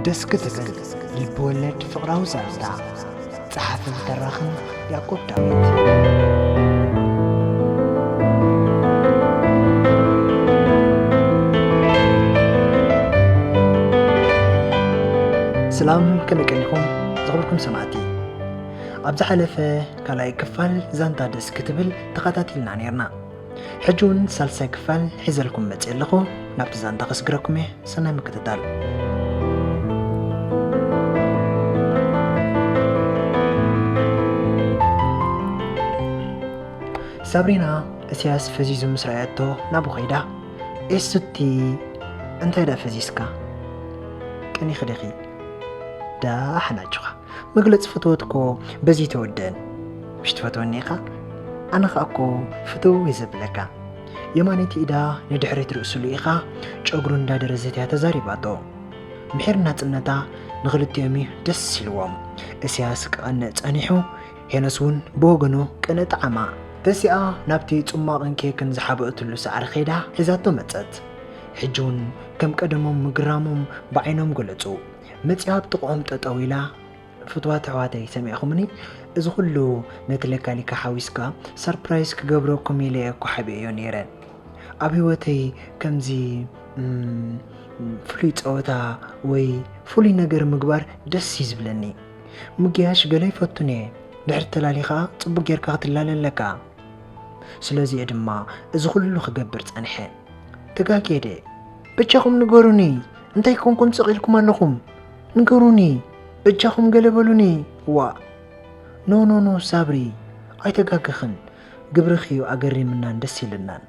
ደስ ክትብል ልብወለድ ፍቕራዊ ዛንታ ጸሓፍን ተራኽን ያዕቆብ ዳዊት ሰላም ከመይ ቀኒኹም ዝኽብርኩም ሰማዕቲ ኣብ ዝሓለፈ ካልኣይ ክፋል ዛንታ ደስ ክትብል ተኸታቲልና ነርና ሕጂ እውን ሳልሳይ ክፋል ሒዘልኩም መፅእ ኣለኹ ናብቲ ዛንታ ከስግረኩም እየ ሰናይ ምክትታል ሳብሪና እስያስ ፈዚዙ ምስ ረኣየቶ ናብኡ ኸይዳ ኤሱቲ እንታይ ደኣ ፈዚስካ ቀኒኺ ዲኺ ደኣ ሓናጭኻ መግለፂ ፍትወት እኮ በዚ ተወደን ምሽ ትፈትወኒ ኢኻ ኣነ ኸኣ እኮ ፍትው እየ ዘብለካ የማነይቲ ኢዳ ንድሕሪት ርእስሉ ኢኻ ጨጉሩ እንዳደረዘት እያ ተዛሪባቶ ምሒር ናፅነታ ንኽልቲኦም እዩ ደስ ኢልዎም እስያስ ክቐንእ ጸኒሑ ሄኖስ እውን ብወገኑ ቅነ ጣዕማ ተሲኣ ናብቲ ጽማቕን ኬክን ዝሓበእትሉ ሳዕሪ ኸይዳ ሒዛቶ መጸት ሕጂ እውን ከም ቀደሞም ምግራሞም ብዓይኖም ገለጹ መፂኣ ኣብ ጥቕኦም ጠጠው ኢላ ፍትዋት ኣሕዋተይ ሰሚዕኹምኒ እዚ ኩሉ ነቲ ለካሊካ ሓዊስካ ሰርፕራይዝ ክገብረኩም ኢለ እኮ ሓቢኤዮ ነይረ ኣብ ህይወተይ ከምዚ ፍሉይ ፀወታ ወይ ፍሉይ ነገር ምግባር ደስ እዩ ዝብለኒ ምጊያሽ ገለ ይፈቱን እየ ድሕሪ ተላሊ ከዓ ፅቡቅ ጌርካ ክትላለ ኣለካ ስለዚ እየ ድማ እዚ ኩሉ ክገብር ፀንሐ ተጋጌደ ብቻኹም ንገሩኒ እንታይ ኮንኩም ስቕ ኢልኩም ኣለኹም ንገሩኒ በጃኹም ገለ በሉኒ ዋእ ኖ ኖ ኖ ሳብሪ ኣይተጋገኽን ግብርኺ እዩ ኣገሪምናን ደስ ኢልናን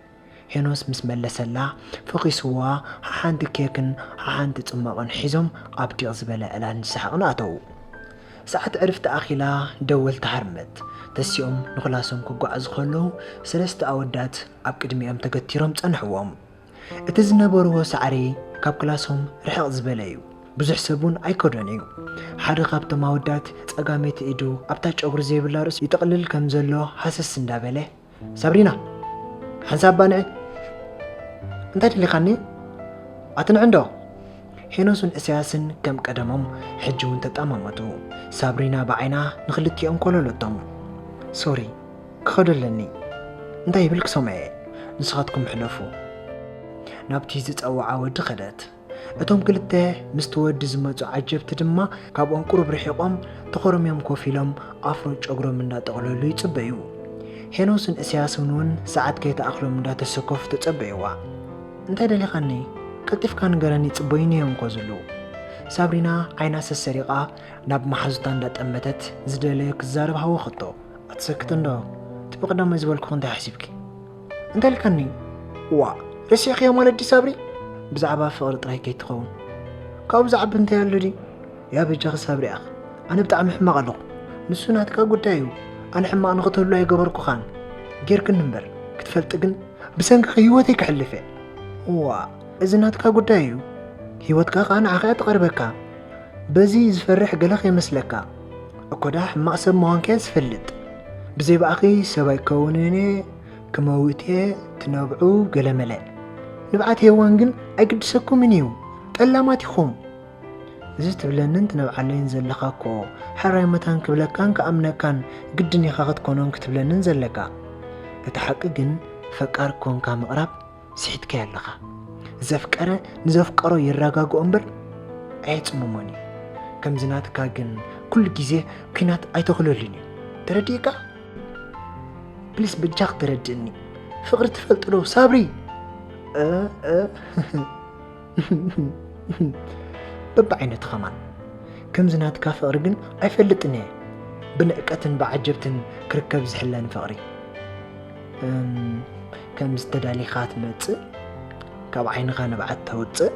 ሄኖስ ምስ መለሰላ ፈኺስዋ ሓሓንቲ ኬክን ሓሓንቲ ጽማቕን ሒዞም ኣብ ዲቕ ዝበለ ዕላል ንሰሓቕን ኣተዉ ሰዓት ዕርፍቲ ኣኺላ ደወል ተሃርመት ተሲኦም ንኽላሶም ክጓዓዙ ከለዉ ሰለስተ ኣወዳት ኣብ ቅድሚኦም ተገቲሮም ጸንሕዎም እቲ ዝነበርዎ ሳዕሪ ካብ ክላሶም ርሕቕ ዝበለ እዩ። ብዙሕ ሰብ እውን ኣይከዶን እዩ። ሓደ ካብቶም ኣወዳት ጸጋመይቲ ኢዱ ኣብታ ጨጉሪ ዘይብላ ርእሱ ይጥቕልል ከም ዘሎ ሃሰስ እንዳበለ፣ ሳብሪና! ሓንሳብ ባንዒ! እንታይ ደሊኻኒ? ኣትንዕንዶ? ሄኖስን እሰያስን ከም ቀደሞም ሕጂ እውን ተጠማመቱ። ሳብሪና ብዓይና ንክልቲኦም ኮለለቶም። ሶሪ፣ ክኸዶ ኣለኒ እንታይ ይብል ክሰምዐ እየ ንስኻትኩም ሕለፉ ናብቲ ዝፀወዓ ወዲ ኸደት እቶም ክልተ ምስቲ ወዲ ዝመፁ ዓጀብቲ ድማ ካብኦም ቁሩብ ርሒቖም ተኾርምዮም ኮፍ ኢሎም ኣፍሮ ጨጉሮም እንዳጠቕለሉ ይፅበዩ ሄኖስን እስያስን እውን ሰዓት ከይተኣኽሎም እንዳተሰከፉ ተፀበይዋ እንታይ ደሊኻኒ ቀልጢፍካ ንገረኒ ይፅበዩኒ እዮም ኮዝሉ ሳብሪና ዓይና ሰሰሪቓ ናብ መሓዙታ እንዳጠመተት ዝደለዮ ክዛረብ ሃወኸቶ ኣትሰክት እንዶ እቲ ብቕዳማይ ዝበልኩኽ እንታይ ሓሲብኪ እንተልከኒ ዋእ ረሲዕክዮ ማለት ዲ ሳብሪ ብዛዕባ ፍቕሪ ጥራይ ከይትኸውን ካብኡ ዝዓቢ እንታይ ኣሎ ድዩ ያ በጃኺ ሳብሪ ኣኽ ኣነ ብጣዕሚ ሕማቕ ኣለኹ ንሱ ናትካ ጉዳይ እዩ ኣነ ሕማቕ ንኽትህሉ ኣይገበርኩኻን ጌርክኒ እምበር ክትፈልጢ ግን ብሰንኪኺ ህይወተይ ክሕልፍ እየ ዋ እዚ ናትካ ጉዳይ እዩ ህይወትካ ከዓ ንዓኻ እያ ተቐርበካ በዚ ዝፈርሕ ገለ ከይመስለካ እኮዳ ሕማቅ ሰብ ምዃንኪ ዝፈልጥ ብዘይ ብኣኺ ሰብ ኣይከውንን እየ ክመውት እየ ትነብዑ ገለመለ ንብዓት ሄዋን ግን ኣይግድሰኩምን እዩ ጠላማት ኢኹም እዚ ትብለንን ትነብዓለይን ዘለኻ እኮ ሕራይ መታን ክብለካን ክኣምነካን ግድን ኢኻ ክትኮኖን ክትብለንን ዘለካ እቲ ሓቂ ግን ፈቃር ኮንካ ምቕራብ ስሒትካዮ ኣለኻ ዘፍቀረ ንዘፍቀሮ የረጋግኦ እምበር ኣየፅምሞን እዩ ከምዚ ናትካ ግን ኩሉ ግዜ ኩናት ኣይተኽለሉን እዩ ተረዲእካ ፕሊስ በጃኽ ተረድእኒ ፍቕሪ ትፈልጥዶ ሳብሪ በብዓይነቱ ኸማን ከምዚ ናትካ ፍቕሪ ግን ኣይፈልጥን እየ ብንዕቀትን ብዓጀብትን ክርከብ ዝሕለን ፍቕሪ ከም ዝተዳሊኻ ትመፅእ ካብ ዓይንኻ ንብዓት ተውፅእ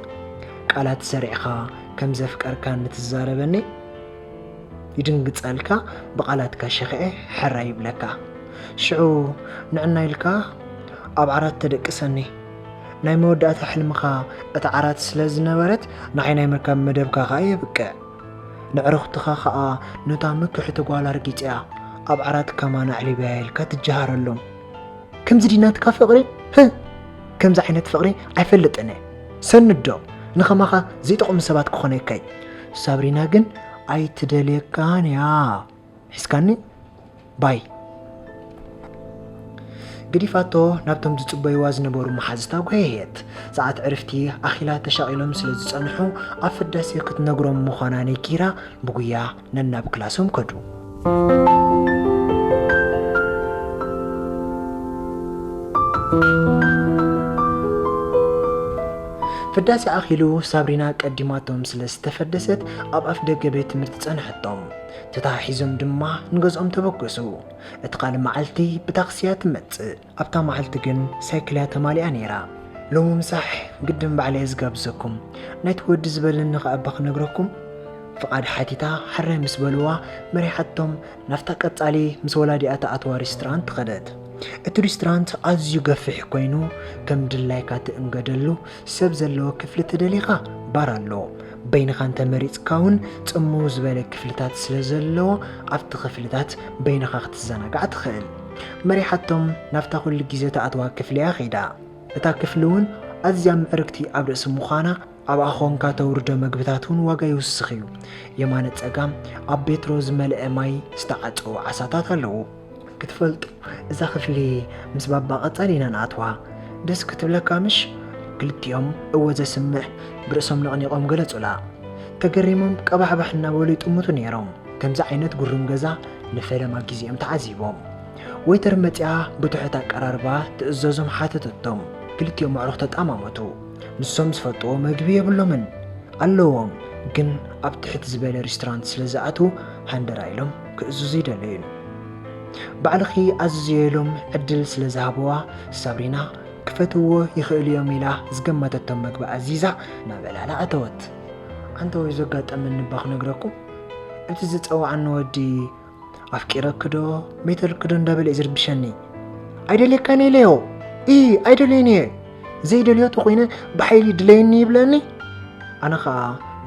ቃላት ሰሪዕኻ ከም ዘፍቀርካ ንትዛረበኒ ይድንግፀልካ ብቓላትካ ሸኽዐ ሕራ ይብለካ ሽዑ ንዕና ኢልካ ኣብ ዓራት ተደቅሰኒ ናይ መወዳእታ ሕልምኻ እታ ዓራት ስለ ዝነበረት ንዓይ ናይ ምርካብ መደብካ ኸኣ የብቅዕ። ነዕርኹትኻ ኸኣ ነታ ምክሕቲ ጓል ኣርጊጸያ ኣብ ዓራት ከማን ኣዕሪበያ ኢልካ ትጀሃረሎም። ከምዚ ድዩ ናትካ ፍቕሪ? ህህ! ከምዚ ዓይነት ፍቕሪ ኣይፈልጥን'የ። ሰንዶ! ንኸማኻ ዘይጠቕሙ ሰባት ክኾነካ እዩ። ሳብሪና ግን ኣይትደልየካን'ያ። ሒዝካኒ ባይ ግዲፋቶ ናብቶም ዝጽበይዋ ዝነበሩ መሓዝታ ጐየየት። ሰዓት ዕርፍቲ ኣኺላ ተሻቒሎም ስለ ዝጸንሑ ኣብ ፍዳሴ ክትነግሮም ምዃና ነጊራ ብጉያ ነናብ ክላሶም ከዱ። ፍዳሴ ኣኺሉ ሳብሪና ቀዲማቶም ስለ ዝተፈደሰት ኣብ ኣፍደገ ቤት ትምህርቲ ጸንሐቶም። ተተሓሒዞም ድማ ንገዝኦም ተበገሱ። እቲ ካልእ መዓልቲ ብታክሲ እያ ትመጽእ። ኣብታ መዓልቲ ግን ሳይክል እያ ተማሊኣ ነይራ። ሎሚ ምሳሕ ግድን ባዕለ እየ ዝጋብዘኩም። ናይቲ ወዲ ዝበለኒ ከኣ እባ ክነግረኩም? ፍቓድ ሓቲታ ሕራይ ምስ በልዋ መሪሓቶም ናብታ ቀጻሊ ምስ ወላዲኣ ትኣትዋ ሪስትራንት ከደት። እቲ ሪስትራንት ኣዝዩ ገፊሕ ኮይኑ ከም ድላይካ ትእንገደሉ ሰብ ዘለዎ ክፍሊ ተደሊኻ ባር ኣሎ በይንኻ እንተመሪፅካ እውን ፅምው ዝበለ ክፍልታት ስለ ዘለዎ ኣብቲ ክፍልታት በይንኻ ክትዘናጋዕ ትኽእል መሪሓቶም ናብታ ኩሉ ግዜ ተኣትዋ ክፍሊ እያ ከይዳ እታ ክፍሊ እውን ኣዝያ ምዕርግቲ ኣብ ርእሲ ምዃና ኣብኣ ኾንካ ተውርዶ መግብታት እውን ዋጋ ይውስኽ እዩ የማነ ፀጋም ኣብ ቤትሮ ዝመልአ ማይ ዝተዓፀዉ ዓሳታት ኣለዉ ክትፈልጡ እዛ ክፍሊ ምስ ባባ ቀጻሊ ኢና ንኣትዋ ደስ ክትብለካ ምሽ ክልቲኦም እወ ዘስምዕ ብርእሶም ነቕኒቖም ገለጹላ ተገሪሞም ቀባሕባሕ እናበሉ ይጥምቱ ነይሮም ከምዚ ዓይነት ጉሩም ገዛ ንፈለማ ግዜኦም ተዓዚቦም ወይተር መጺኣ ብትሑት ኣቀራርባ ትእዘዞም ሓተተቶም ክልቲኦም ኣዕሩኽ ተጣማመቱ ንሶም ዝፈልጥዎ መግቢ የብሎምን ኣለዎም ግን ኣብ ትሕት ዝበለ ሬስቶራንት ስለ ዝኣትዉ ሃንደራ ኢሎም ክእዝዙ ይደለዩን ባዕልኺ ኣዝዝዮ ኢሎም ዕድል ስለ ዝሃብዋ ሳብሪና ክፈትዎ ይኽእሉ እዮም ኢላ ዝገመተቶም መግቢ ኣዚዛ ናብ ዕላላ ኣተወት። ኣንታ ወይ ዘጋጠመኒ እባ ክነግረኩም እቲ ዝጸዋዕኒ ወዲ ኣፍቂረክዶ ሜተልክዶ እንዳበለ እዩ ዝርብሸኒ ኣይደልየካን ኢለዮ ኢ ኣይደልዮን እየ ዘይደልዮ ተኾይነ ብሓይሊ ድለየኒ ይብለኒ ኣነ ኸዓ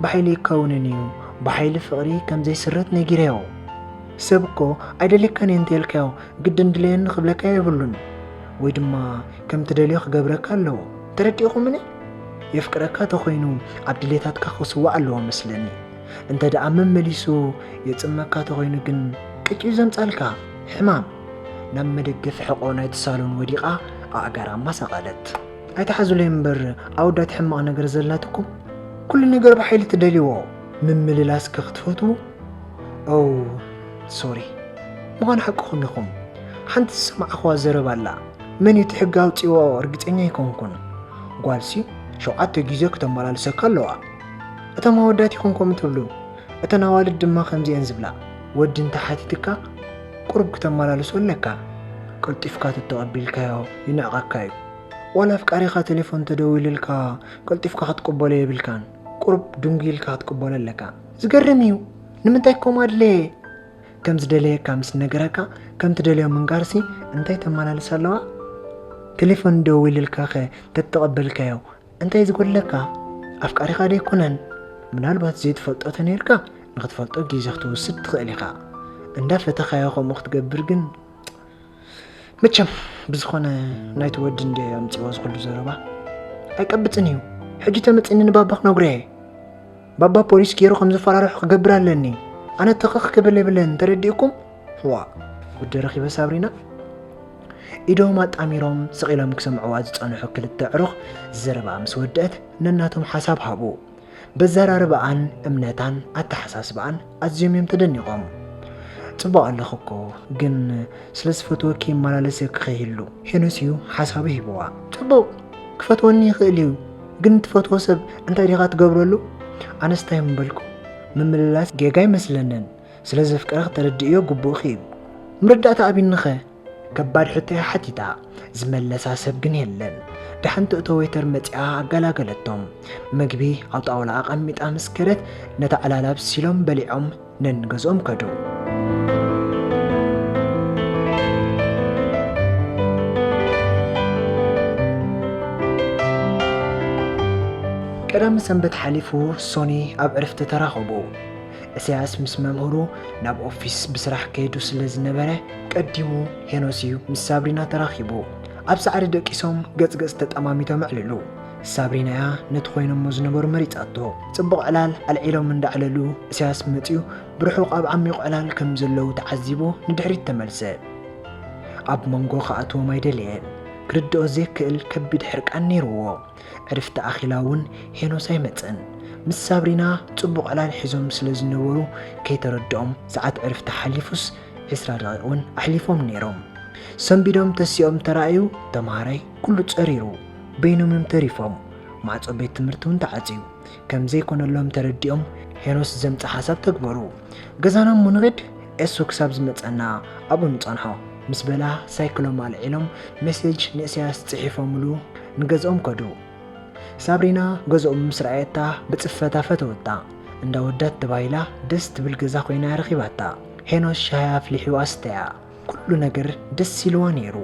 ብሓይሊ ይከውንን እዩ ብሓይሊ ፍቕሪ ከም ዘይስረት ነጊረዮ ሰብ እኮ ኣይደልየካን እየ እንተልካዮ ግድን ድለየኒ ክብለካ የብሉን ወይ ድማ ከም ትደልዮ ክገብረካ ኣለዎ ተረዲእኹምኒ የፍቅረካ ተኾይኑ ኣብ ድሌታትካ ክስዋዕ ኣለዎ መስለኒ እንተ ደኣ መመሊሱ የፅመካ ተኾይኑ ግን ቅጭ እዩ ዘምፃልካ ሕማም ናብ መደገፊ ሕቆ ናይቲ ሳሎን ወዲቓ ኣእጋራ ኣማሳቐለት። ኣይትሓዙለይ እምበር ኣወዳት ሕማቕ ነገር ዘላትኩም ኩሉ ነገር ብሓይሊ ትደልይዎ ምምልላስከ ክትፈትዉ ኦው ሶሪ ምዃን ሓቅኹም ኢኹም ሓንቲ ዝሰማዕኽዋ ዘረባ ኣላ መን እዩ እቲ ሕጊ ኣውፂዎ እርግፀኛ ኣይኮንኩን ጓልሲ ሸውዓተ ግዜ ክተመላልሰካ ኣለዋ እቶም ኣወዳት ይኹን ከምኡ ትብሉ እተን ኣዋልድ ድማ ከምዚኤን ዝብላ ወዲ እንተሓቲትካ ቁሩብ ክተመላልሶ ኣለካ ቀልጢፍካ ተተቀቢልካዮ ይንዕቀካ እዩ ዋላ ኣፍቃሪካ ቴሌፎን ተደዊልልካ ቀልጢፍካ ክትቅበሎ የብልካን ቁሩብ ድንጉይ ኢልካ ክትቅበሎ ኣለካ ዝገርም እዩ ንምንታይ ከምኡ ኣድለየ ከም ዝደለየካ ምስ ነገረካ ከም ትደልዮ ምንጋርሲ እንታይ ተመላልስ ኣለዋ ቴሌፎን ደዊልልካ ኸ ተተቐበልካዮ እንታይ ዝጎድለካ ኣፍቃሪኻ ዶ ኣይኮነን ምናልባት ዘይትፈልጦ ተነይርካ ንክትፈልጦ ግዜ ክትወስድ ትኽእል ኢኻ እንዳ ፈተኻዮ ከምኡ ክትገብር ግን መቸም ብዝኾነ ናይቲ ወዲ እንደ ኣምፅዎ ዝኽሉ ዘረባ ኣይቀብፅን እዩ ሕጂ ተመፅኒ ንባባ ክነግሮየ ባባ ፖሊስ ገይሩ ከም ዘፈራርሑ ክገብር ኣለኒ ኣነ ተኸኽ ክብል የብለን ተረዲእኩም ዋእ ወዲ ረኺበ ሳብሪና ኢዶም ኣጣሚሮም ስቒሎም ክሰምዕዋ ዝጸንሑ ክልተ ኣዕሩኽ ዘረባኣ ምስ ወድአት ነናቶም ሓሳብ ሃቡ በዘራርባኣን እምነታን ኣተሓሳስባኣን ኣዝዮም እዮም ተደኒቖም ጽቡቕ ኣለኹ እኮ ግን ስለ ዝፈትወኪ ይመላለስ ክኸይሉ ሄኖስ እዩ ሓሳቡ ሂብዋ ጽቡቕ ክፈትወኒ ይኽእል እዩ ግን ትፈትዎ ሰብ እንታይ ዲኻ ትገብረሉ ኣነስታይ ምበልኩ ምምልላስ ጌጋ ኣይመስለንን ስለ ዘፍቅራ ክተረድእዮ ግቡእኺ እዩ ምርዳእታ ኣቢንኸ ከባድ ሕቶ እያ ሓቲታ ዝመለሳ ሰብ ግን የለን ደሓን ትእቶ ወይተር መፂኣ ኣገላገለቶም ምግቢ ኣብ ጣውላ ኣቐሚጣ ምስ ከደት ነታ ዕላል ኣብሲሎም በሊዖም ነንገዝኦም ከዱ ቀዳም ሰንበት ሓሊፉ ሶኒ ኣብ ዕርፍቲ ተራኸቡ እሰያስ ምስ መምህሩ ናብ ኦፊስ ብስራሕ ከይዱ ስለ ዝነበረ ቀዲሙ ሄኖስ'ዩ ምስ ሳብሪና ተራኺቡ። ኣብ ሳዕሪ ደቂሶም ገጽ ገጽ ተጠማሚቶም ኣዕለሉ። ሳብሪና'ያ ነቲ ኮይኖሞ ዝነበሩ መሪጻቶ። ጽቡቕ ዕላል ኣልዒሎም እንዳዕለሉ እሰያስ መጺኡ ብርሑቕ ኣብ ዓሚቝ ዕላል ከም ዘለዉ ተዓዚቡ ንድሕሪት ተመልሰ። ኣብ መንጎ ክኣትዎም ኣይደለየን። ክርድኦ ዘይክእል ከቢድ ሕርቃን ነይሩዎ። ዕርፍቲ ኣኺላ እውን ሄኖስ ኣይመጸን። ምስ ሳብሪና ጽቡቕ ዕላል ሒዞም ስለ ዝነበሩ ከይተረድኦም ሰዓት ዕርፍቲ ሓሊፉስ ዕስራ ደቒቕ እውን ኣሕሊፎም ነይሮም። ሰንቢዶም ተሲኦም ተራእዩ ተማሃራይ ኩሉ ጸሪሩ በይኖም እዮም ተሪፎም። ማዕጾ ቤት ትምህርቲ እውን ተዓጽዩ ከም ዘይኮነሎም ተረዲኦም ሄኖስ ዘምጽ ሓሳብ ተግበሩ። ገዛና እሞ ንኺድ ኤሱ ክሳብ ዝመጸና ኣብኡ ንጸንሖ ምስ በላ ሳይክሎም ኣልዒሎም መሴጅ ንእሰያስ ጽሒፎምሉ ንገዝኦም ከዱ። ሳብሪና ገዝኦም ምስ ረኣየታ ብጽፈታ ፈተወታ። እንዳ ወዳት ተባሂላ ደስ ትብል ገዛ ኮይና እያ ረኺባታ። ሄኖስ ሻሂ ኣፍሊሑ ኣስተያ። ኩሉ ነገር ደስ ኢልዋ ነይሩ።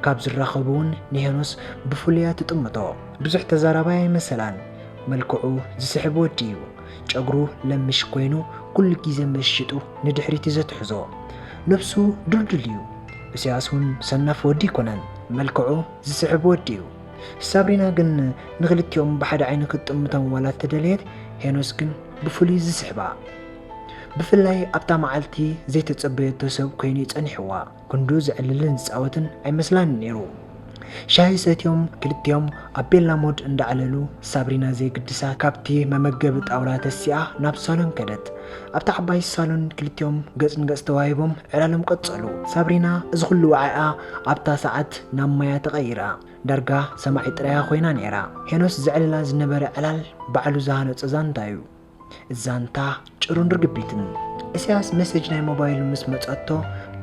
ካብ ዝራኸቡ እውን ንሄኖስ ብፍሉይ እያ ትጥምቶ። ብዙሕ ተዛራባይ ኣይመሰላን። መልክዑ ዝስሕብ ወዲ እዩ። ጨጉሩ ለምሽ ኮይኑ ኩሉ ግዜ ምእሽጡ ንድሕሪት እዩ ዘትሕዞ። ነብሱ ድልዱል እዩ። እሰያስ እውን ሰናፍ ወዲ ኣይኮነን። መልክዑ ዝስሕብ ወዲ እዩ። ሳብሪና ግን ንኽልቲኦም ብሓደ ዓይኒ ክትጥምቶም ዋላ እንተደለየት ሄኖስ ግን ብፍሉይ ዝስሕባ። ብፍላይ ኣብታ መዓልቲ ዘይተጸበየቶ ሰብ ኮይኑ እዩ ጸኒሕዋ። ክንዱ ዘዕልልን ዝጻወትን ኣይመስላንን ነይሩ። ሻሂ ሰትዮም ክልቲኦም ኣብ ቤላ ሞድ እንዳዕለሉ ሳብሪና ዘይግድሳ ካብቲ መመገቢ ጣውላ ተሲኣ ናብ ሳሎን ከደት። ኣብታ ዓባይ ሳሎን ክልቲኦም ገጽ ንገጽ ተዋሂቦም ዕላሎም ቀጸሉ። ሳብሪና እዚ ኹሉ ወዓኢኣ ኣብታ ሰዓት ናብ ማያ ተቐይራ ዳርጋ ሰማዒት ጥራያ ኮይና ነይራ። ሄኖስ ዘዕልላ ዝነበረ ዕላል ባዕሉ ዝሃነጾ ዛንታ'ዩ። ዛንታ ጭሩን ርግቢትን። እስያስ መሴጅ ናይ ሞባይሉ ምስ መጸቶ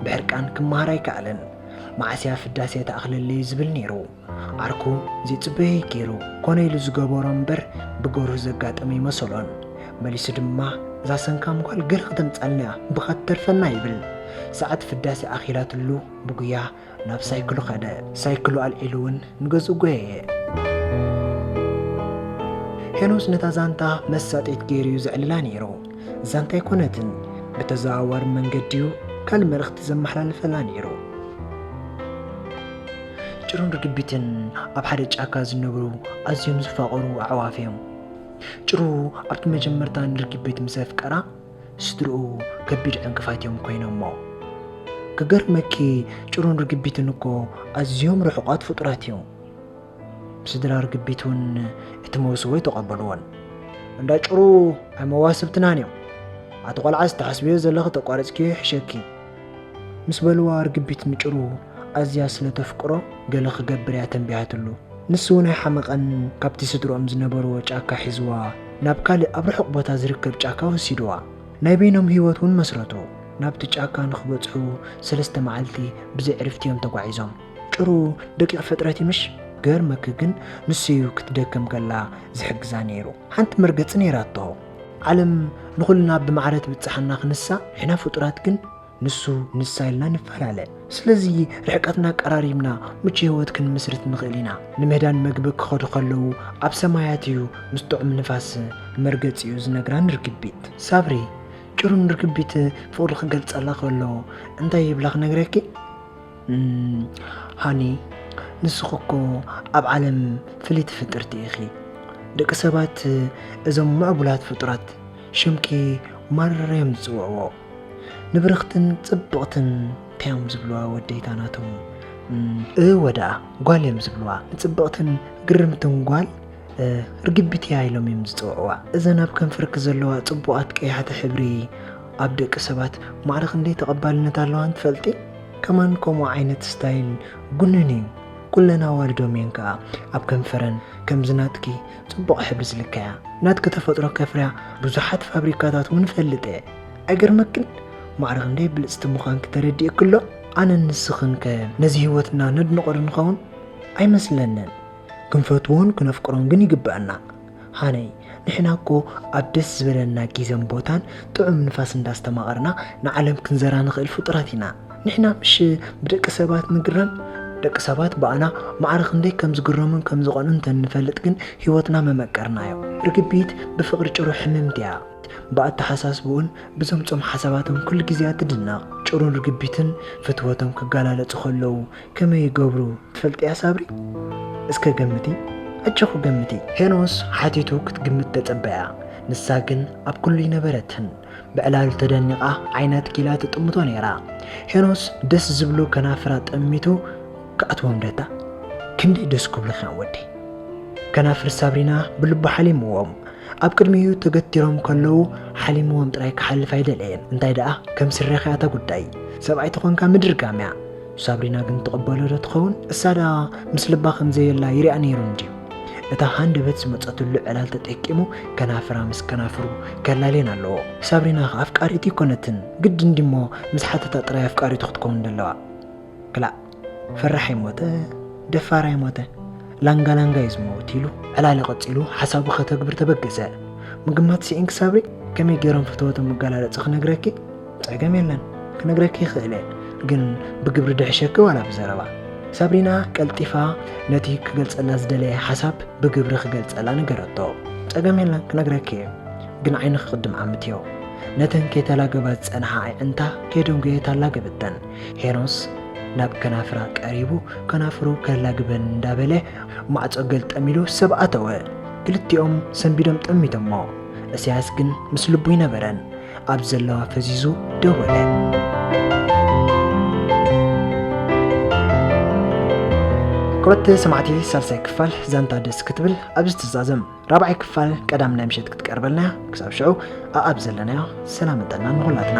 ብሕርቃን ክመሃር ኣይከኣለን። መዓስ'ያ ፍዳሴ ትኣኽለለይ ዝብል ነይሩ። ዓርኩ ዘይጽበየይ ገይሩ ኮነ ኢሉ ዝገበሮ እምበር ብገርሁ ዘጋጠመ ኣይመሰሎን። መሊሱ ድማ እዛ ሰንካም ጓል ገለ ከተምጻልና'ያ ብኻ ትተርፈና ይብል። ሰዓት ፍዳሴ ኣኺላትሉ ብጉያ ናብ ሳይክሉ ከደ። ሳይክሉ ኣልዒሉ'ውን ንገዝኡ ጎየየ። ሄኖስ ነታ ዛንታ መሳጥሒት ገይሩ'ዩ ዘዕልላ ነይሩ። ዛንታ ኣይኮነትን፣ ብተዘዋዋሪ መንገዲ'ዩ ካልእ መልእኽቲ ዘመሓላልፈላ ነይሩ። ጭሩን ርግቢትን ኣብ ሓደ ጫካ ዝነብሩ ኣዝዮም ዝፋቐሩ ኣዕዋፍ እዮም። ጭሩ ኣብቲ መጀመርታ ንርግቢት ምስ ኣፍቀራ ስድርኡ ከቢድ ዕንቅፋት እዮም ኮይኖሞ። ክገርመኪ ጭሩን ርግቢትን እኮ ኣዝዮም ርሑቓት ፍጡራት እዮም። ስድራ ርግቢት እውን እቲ መውስቦ ኣይተቐበልዎን። እንዳ ጭሩ ኣይ መዋስብትናን እዮም ኣቲ ቆልዓ ዝተሓስብዮ ዘለኺ ተቋርጽኪዮ ይሕሸኪ ምስ በልዋ ርግቢት ምጭሩ ኣዝያ ስለ ተፍቅሮ ገለ ክገብር እያ ተንቢሃትሉ። ንሱ እውን ኣይሓመቐን ካብቲ ስድርኦም ዝነበርዎ ጫካ ሒዝዋ ናብ ካልእ ኣብ ርሑቕ ቦታ ዝርከብ ጫካ ወሲድዋ። ናይ በይኖም ህይወት እውን መስረቱ። ናብቲ ጫካ ንክበጽሑ ሰለስተ መዓልቲ ብዘይ ዕርፍቲ እዮም ተጓዒዞም። ጭሩ ደቂቕ ፍጥረት እዩ ምሽ? ክገርመኪ ግን ንሱ እዩ ክትደክም ከላ ዝሕግዛ ነይሩ። ሓንቲ መርገጺ ነይራቶ። ዓለም ንኹልና ብማዕረ ትብጽሓና ክንሳ ንሕና ፍጡራት ግን ንሱ ንሳ ኢልና ንፈላለ። ስለዚ ርሕቀትና ኣቀራሪብና ምቹ ህይወት ክንምስርት ንኽእል ኢና። ንምህዳን መግቢ ክኸዱ ከለዉ ኣብ ሰማያት እዩ ምስ ጥዑም ንፋስ መርገጺኡ ዝነግራን ርግቢት። ሳብሪ ጭሩን ርግቢት ፍቕሩ ክገልጸላ ከሎ እንታይ ይብላ ክነግረኪ? ሃኒ ንስኺ እኮ ኣብ ዓለም ፍልይቲ ፍጥርቲ ኢኺ ደቂ ሰባት እዞም ምዕቡላት ፍጡራት ሽምኪ ማረር እዮም ዝፅውዕዎ ንብርኽትን ፅብቕትን እንታይ እዮም ዝብልዋ ወደይታ ናቶም እወ ደኣ ጓል እዮም ዝብልዋ ንፅብቕትን ግርምትን ጓል ርግቢት እያ ኢሎም እዮም ዝፅውዕዋ እዘን ኣብ ከንፈርኪ ዘለዋ ፅቡቓት ቀያሕቲ ሕብሪ ኣብ ደቂ ሰባት ማዕረ ክንደይ ተቐባልነት ኣለዋን ትፈልጢ? ከማን ከምኡ ዓይነት ስታይል ጉኑን እዩ። ኩለን ኣዋልዶም እየን ከኣ ኣብ ከንፈረን ከምዚ ናትኪ ጽቡቕ ሕብሪ ዝልከያ። ናትኪ ተፈጥሮ ከፍርያ ብዙሓት ፋብሪካታት እውን እፈልጥ እየ። ኣይገርመክን? ማዕረ ክንደይ ብልጽቲ ምዃንኪ ተረዲኡኪ ኣሎ? ኣነን ንስኽን ከ ነዚ ህይወትና ነድንቖ ዶ ንኸውን? ኣይመስለንን። ክንፈትዎን ክነፍቅሮን ግን ይግበኣና። ሃነይ ንሕና እኮ ኣብ ደስ ዝበለና ጊዘን ቦታን ጥዑም ንፋስ እንዳስተማቐርና ንዓለም ክንዘራ ንኽእል ፍጡራት ኢና። ንሕና ምሽ ብደቂ ሰባት ንግረም? ደቂ ሰባት ብኣና ማዕረ ክንደይ ከም ዝግረሙን ከም ዝቐንኡን እንተንፈልጥ ግን ህይወትና መመቀርናዮ። ርግቢት ብፍቕሪ ጭሩ ሕምምቲ እያ። ብኣተሓሳስብኡን ብዘምጾም ሓሳባትን ኩሉ ግዜ ትድነቕ። ጭሩን ርግቢትን ፍትወቶም ክገላለጹ ከለዉ ከመይ ይገብሩ ትፈልጥያ ሳብሪ እስከ ገምቲ ኣጆኺ ገምቲ። ሄኖስ ሓቲቱ ክትግምት ተጸበያ ንሳ ግን ኣብ ኩሉ ይነበረትን ብዕላሉ ተደኒቓ ዓይና ትኪላ ትጥምቶ ነይራ ሄኖስ ደስ ዝብሉ ከናፍራ ጠሚቱ ክኣትዎም ደታ ክንደይ ደስ ክብሉኺ ወዲ ከናፍር ሳብሪና ብልቡ ሓሊምዎም ኣብ ቅድሚኡ ተገቲሮም ከለዉ ሓሊምዎም ጥራይ ክሓልፍ ኣይደለየን እንታይ ደኣ ከም ስረኺ ኣታ ጉዳይ ሰብኣይ ተኾንካ ምድርጋም እያ ሳብሪና ግን ትቕበሎ ዶ ትኸውን? እሳ ደኣ ምስ ልባ ከም ዘየላ ይርኣ ነይሩ እንድዩ። እታ ሃንደበት ዝመጸትሉ ዕላል ተጠቂሙ ከናፍራ ምስ ከናፍሩ ከላልየን ኣለዎ። ሳብሪና ከ ኣፍቃሪቱ ኣይኮነትን፣ ግድን ድዩ'ሞ ምስ ሓተታ ጥራይ ኣፍቃሪቱ ክትከውን ደለዋ? ክላእ! ፈራሕ ኣይሞተ ደፋር ኣይሞተ ላንጋ ላንጋ እዩ ዝመውት ኢሉ ዕላሊ ቀጺሉ ሓሳቡ ከተግብር ተበገሰ። ምግማት ስኢንኪ ሳብሪ፣ ከመይ ገይሮም ፍትወቶም መገላለጺ ክነግረኪ? ጸገም የለን ክነግረኪ ይኽእል እየ ግን ብግብሪ ድሕሸኪ ዋላ ብዘረባ ሳብሪና ቀልጢፋ ነቲ ክገልጸላ ዝደለየ ሓሳብ ብግብሪ ክገልጸላ ነገረቶ ጸገም የለን ክነግረኪ እየ ግን ዓይኒ ክቕድም ዓምትዮ ነተን ከይተላገባ ዝጸንሓ ኣዕንታ ከይደንጎየ ታላገበተን ሄኖስ ናብ ከናፍራ ቀሪቡ ከናፍሩ ከላግበን እንዳበለ ማዕጾ ገልጠም ኢሉ ሰብ ኣተወ ክልቲኦም ሰንቢዶም ጠሚቶሞ እስያስ ግን ምስ ልቡ ይነበረን ኣብ ዘለዋ ፈዚዙ ደወለ። ክብረት ሰማዕቲ ሳልሳይ ክፋል ዛንታ ደስ ክትብል ኣብዚ ትዛዘም ራብዓይ ክፋል ቀዳም ናይ ምሸት ክትቀርበልና እያ። ክሳብ ሽዑ ኣኣብ ዘለናዮ ሰላም ጥዕና ንኹላትና።